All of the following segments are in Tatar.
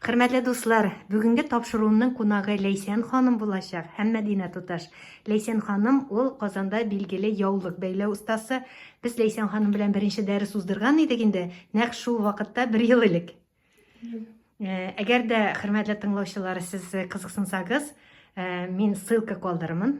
Хөрмәтле дуслар, бүгенге тапшыруның кунагы Ләйсән ханым булачак һәм Мәдинә туташ. Ләйсән ханым ул Казанда билгеле яулык бәйләү остасы. Без Ләйсән ханым белән беренче дәрес уздырган идек инде, нәкъ шул вакытта бер ел элек. Э, әгәр дә хөрмәтле тыңлаучылар сез кызыксынсагыз, э, мин ссылка калдырырмын.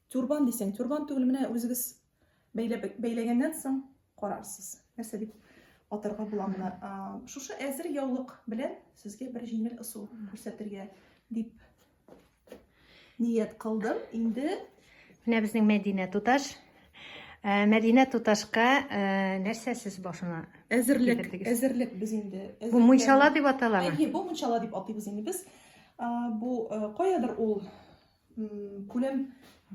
Тюрбан дисең, тюрбан түгел, менә үзегез бәйләп, бәйләгәннән соң карарсыз. Нәрсә дип атырга була моны. Шушы әзер яулык белән сезгә бер җиңел ысул күрсәтергә дип ният кылдым. Инде менә безнең Мәдинә туташ Э, Мәдинә туташка э, нәрсә сез башына әзерлек әзерлек без инде бу мунчала дип аталамы әйе бу мунчала дип атыйбыз инде без бу э, каядыр ул күләм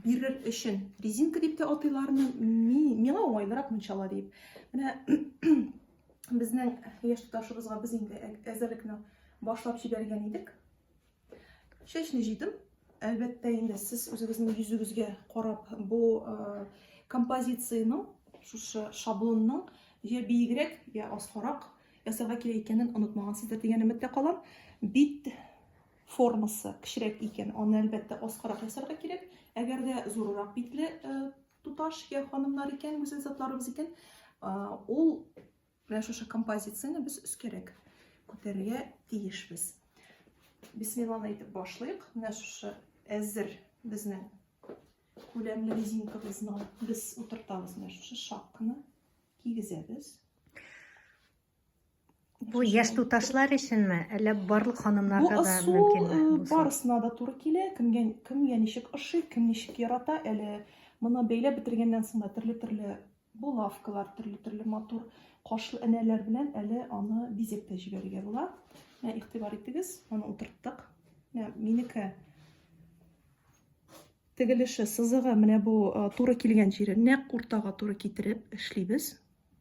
бирер өчен резинка дип тә атыйлармы миңа уңайлырак мунчала дип менә безнең яшь туташыбызга без инде әзерлекне башлап җибәргән идек чәчне җыйдым әлбәттә инде сез үзегезнең йөзегезгә карап бу композицияның шушы шаблонның я биегрәк я аскарак ясарга кирәк икәнен онытмагансыздыр дигән өметтә калам бит формасы кечерәк икән, аны әлбәттә аскарак ясарга кирәк. Әгәр дә зуррак битле э, туташ я ханымнар икән, гүзәл затларыбыз икән, э, ул менә шушы композицияне без өскәрәк күтәрергә тиешбез. Бисмилланы әйтеп башлыйк. Менә шушы әзер безнең күләмле резинкабызны без утыртабыз. Менә шушы шапканы кигезәбез. Бу яшь туташлар өченме, әллә барлык ханымнарга да мөмкинме? Бу ысул э, барысына да туры килә. Кемгә кемгә ничек ошый, кем ничек ярата, әле моны бәйләп бетергәннән соң да төрле-төрле булавкалар, төрле-төрле матур кашлы энәләр белән әле аны бизәп тә җибәрергә була. Менә игътибар итегез, аны утырттык. Менә минеке тегелеше, сызыгы менә бу э, туры килгән җире нәкъ уртага туры китереп эшлибез.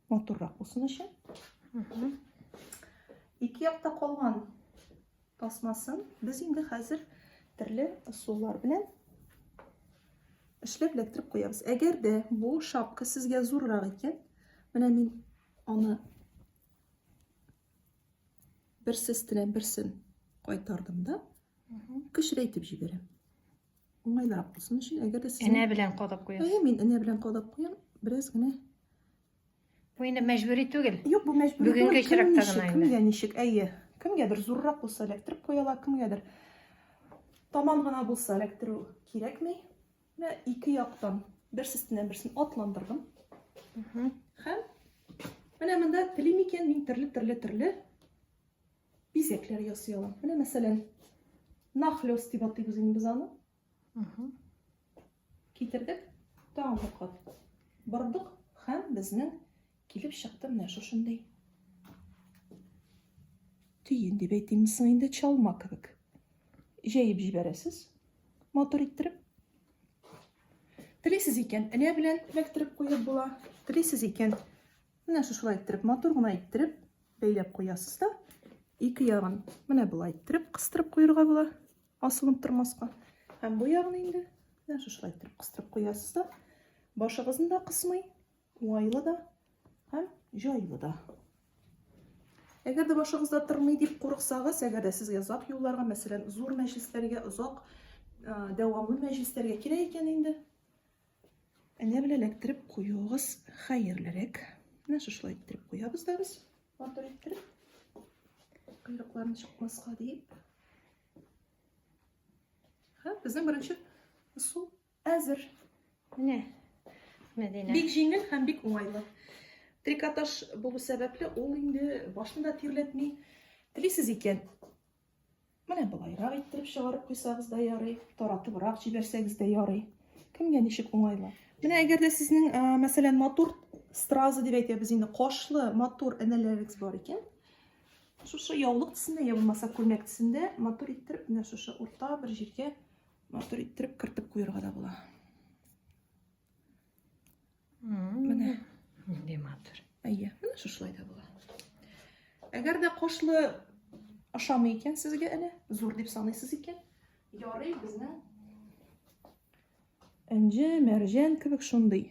матуррак булсын өчен. Ике якта калган тасмасын без инде хәзер төрле ысуллар белән эшләп эләктереп куябыз. Әгәр дә бу шапка сезгә зуррак икән, менә мин аны берсе өстенә берсен кайтардым да, кечерәйтеп җибәрәм. Уңайлырак булсын өчен, әгәр дә сезнең... Энә белән кадап куясыз. Әйе, мин энә белән кадап куям. Бераз генә Бу инде мәҗбүри түгел. Юк, бу мәҗбүри түгел. Бүгенге очракта гына инде. Кемгә ничек? Әйе. Кемгәдер зуррак булса эләктереп куяла, кемгәдер таман гына булса эләктерү кирәкми. Менә ике яктан бер сестеннән берсен атландырдым. Һәм менә монда телим икән мин төрле-төрле-төрле бизәкләр ясый алам. Менә мәсәлән, нахлёс дип атыйбыз инде без аны. Китердек, тагын бер кат. Бордык һәм безнең килеп чыкты менә шушындый. Тиен дип әйтимме соң инде чалма кебек. Җәеп җибәрәсез. Матур иттереп. Телисез икән, элә белән эләктереп куеп була. Телисез икән, менә шушылай иттереп, матур гына иттереп, Бәйләп куясыз да, ике ягын менә болай иттереп кыстырып куерга була, асылынып тормаска. Һәм бу ягын инде менә шушылай иттереп кыстырып куясыз да, башыгызны да кысмый, уңайлы да һәм җайлы да. Әгәр дә башыгызда тырмый дип курыксагыз, әгәр дә сезгә озак юлларга, мәсәлән, зур мәҗлесләргә, озак дәвамлы мәҗлесләргә кирәк икән инде, Әллә белә эләктереп куюыгыз хәерлерәк. Менә шушылай иттереп куябыз да без. Батыр иттереп. Койрыкларын чыкмаска диеп. Ха, безнең беренче ысул әзер. Менә. Мәдинә. Бик җиңел һәм бик уңайлы. Трикотаж булу сәбәпле ул инде башында тирләтми. Телисез икән, Менә болайрак иттереп чыгарып куйсагыз да ярый, таратыбрак җибәрсәгез дә ярый. Кемгә ничек уңайлы. Менә әгәр дә сезнең, мәсәлән, матур стразы дип әйтәбез инде, кашлы матур энәләрегез бар икән, шушы яулык төсендә, я булмаса күлмәк төсендә матур иттереп, менә шушы урта бер җиргә матур иттереп кертеп куярга да була. Менә. Нинди матур. Әйе, менә шушылай да була. Әгәр дә кошлы ашамый икән сезгә әнә, зур дип саныйсыз икән, ярый безнең Энҗе, мәрҗән кебек шундый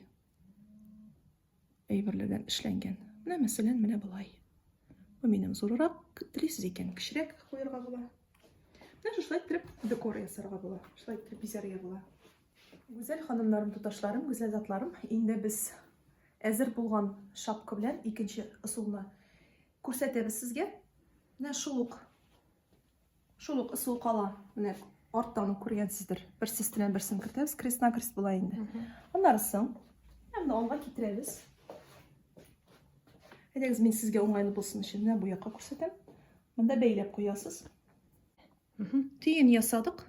әйберләрдән эшләнгән. Менә мәсәлән, менә болай. Бу минем зурырак, телисез икән, кечерәк куярга була. Менә шулай итеп декор ясарга була. Шулай итеп бизәргә була. Гүзәл ханымнарым, туташларым, гүзәл затларым, инде без әзер булган шапка белән икенче ысулны күрсәтәбез сезгә. Менә шул ук шул ук ысул кала. Менә арттан ук күргәнсездер. Бер сестенә берсен кертәбез, крестна крест була инде. Аннары соң һәм алга китерәбез. Әйдәгез, мин сезгә уңайлы булсын өчен менә бу якка күрсәтәм. Монда бәйләп куясыз. Төен ясадык.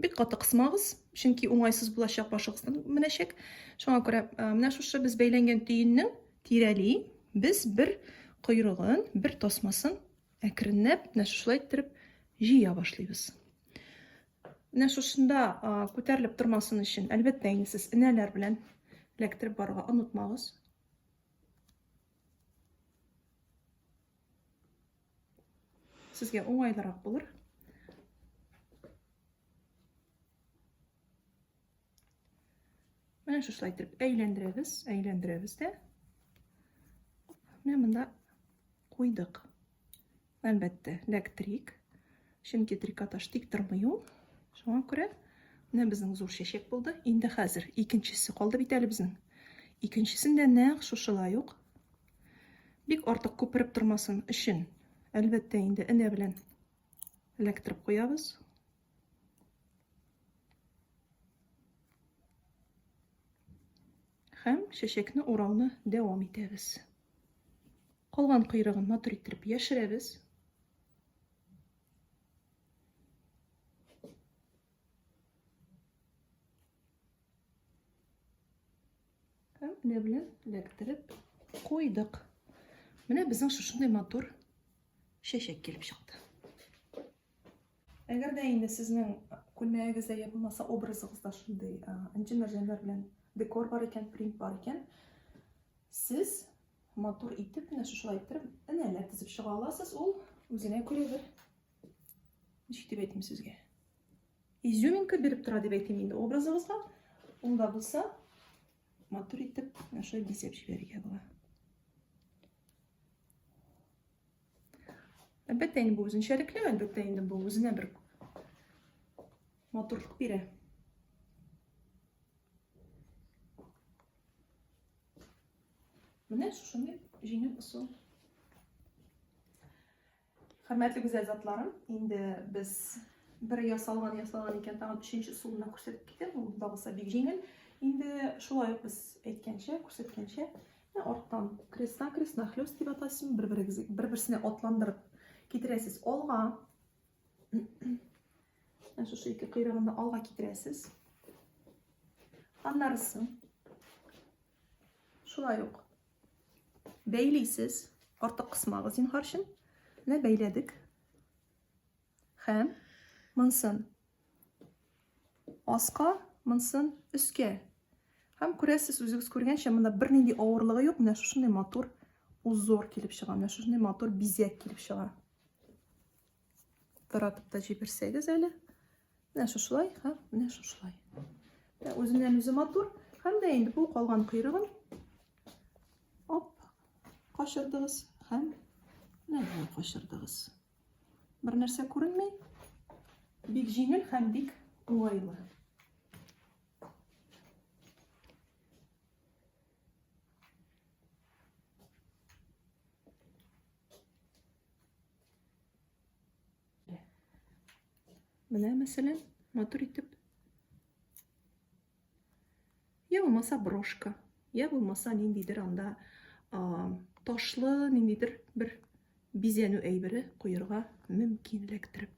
Бик каты кысмагыз, чөнки уңайсыз булачак башыгыздан менәчәк. Шуңа күрә менә шушы без бәйләнгән төеннең тирәли без бер койрыгын, бер тасмасын әкренләп менә шушылай иттереп җыя башлыйбыз. Менә шушында күтәрелеп тормасын өчен, әлбәттә, инде сез энәләр белән эләктереп барырга онытмагыз. Сезгә уңайлырак булыр. Менә шушылай итеп әйләндерәбез, әйләндерәбез дә. Менә монда куйдык. Әлбәттә, ләктрик. Чөнки трикотаж тик тормый ул. Шуңа күрә менә безнең зур чәчәк булды. Инде хәзер икенчесе калды бит әле безнең. Икенчесен дә нәкъ шушылай ук Бик артык күпереп тормасын өчен, әлбәттә инде, энә белән эләктереп куябыз. Һәм чәчәкне урауны дәвам итәбез. Калган койрыгын матур иттереп яшерәбез. Һәм менә белән эләктереп куйдык. Менә безнең шушындай матур чәчәк килеп чыкты. Әгәр дә инде сезнең күлмәгегездә я булмаса образыгызда шундый энҗе мәрҗәннәр белән декор бар икән, принт бар икән, сез матур итеп менә шушылай иттереп энәләр тезеп чыга аласыз. Ул үзенә күрә бер ничек дип әйтим сезгә? изюминка биреп тора дип әйтим инде образыбызга ул да булса матур итеп менә шулай бизәп җибәрергә була әлбәттә инде бу үзенчәлекле әлбәттә инде бу үзенә бер матурлык бирә менә шушындай җиңел ысул Хөрмәтле гүзәл затларым, инде без бер ясалган ясалган икән, тагын өченче ысулны күрсәтеп китәм. Ул багыса бик җиңел. Инде шулай ук без әйткәнчә, күрсәткәнчә, арттан крестна крестна хлёст дип атасың, бер-берегез бер-берсенә атландырып китерәсез алга. Шушы ике кыйрыгында алга китерәсез. Аннарысы Шулай ук бәйлисез, артык кысмагыз зинһар өчен. Менә бәйләдек. Хәм монсын аска, монсын өскә. Хәм күрәсез, үзегез күргәнчә, монда бернинди авырлыгы юк. Менә шушындый матур узор килеп чыга. Менә шушындый матур бизәк килеп чыга. Таратып та җибәрсәгез әле. Менә шушылай һәм менә шушылай. Ә үзеннән үзе матур. Һәм дә инде бу калган койрыгын оп качырдыгыз һәм менә болай качырдыгыз. Бер нәрсә күренми. Бик җиңел һәм бик уңайлы. Менә, мәсәлән, матур итеп. Я булмаса брошка, я булмаса ниндидер анда ташлы, ниндидер бер бизәнү әйбере куярга мөмкин эләктереп.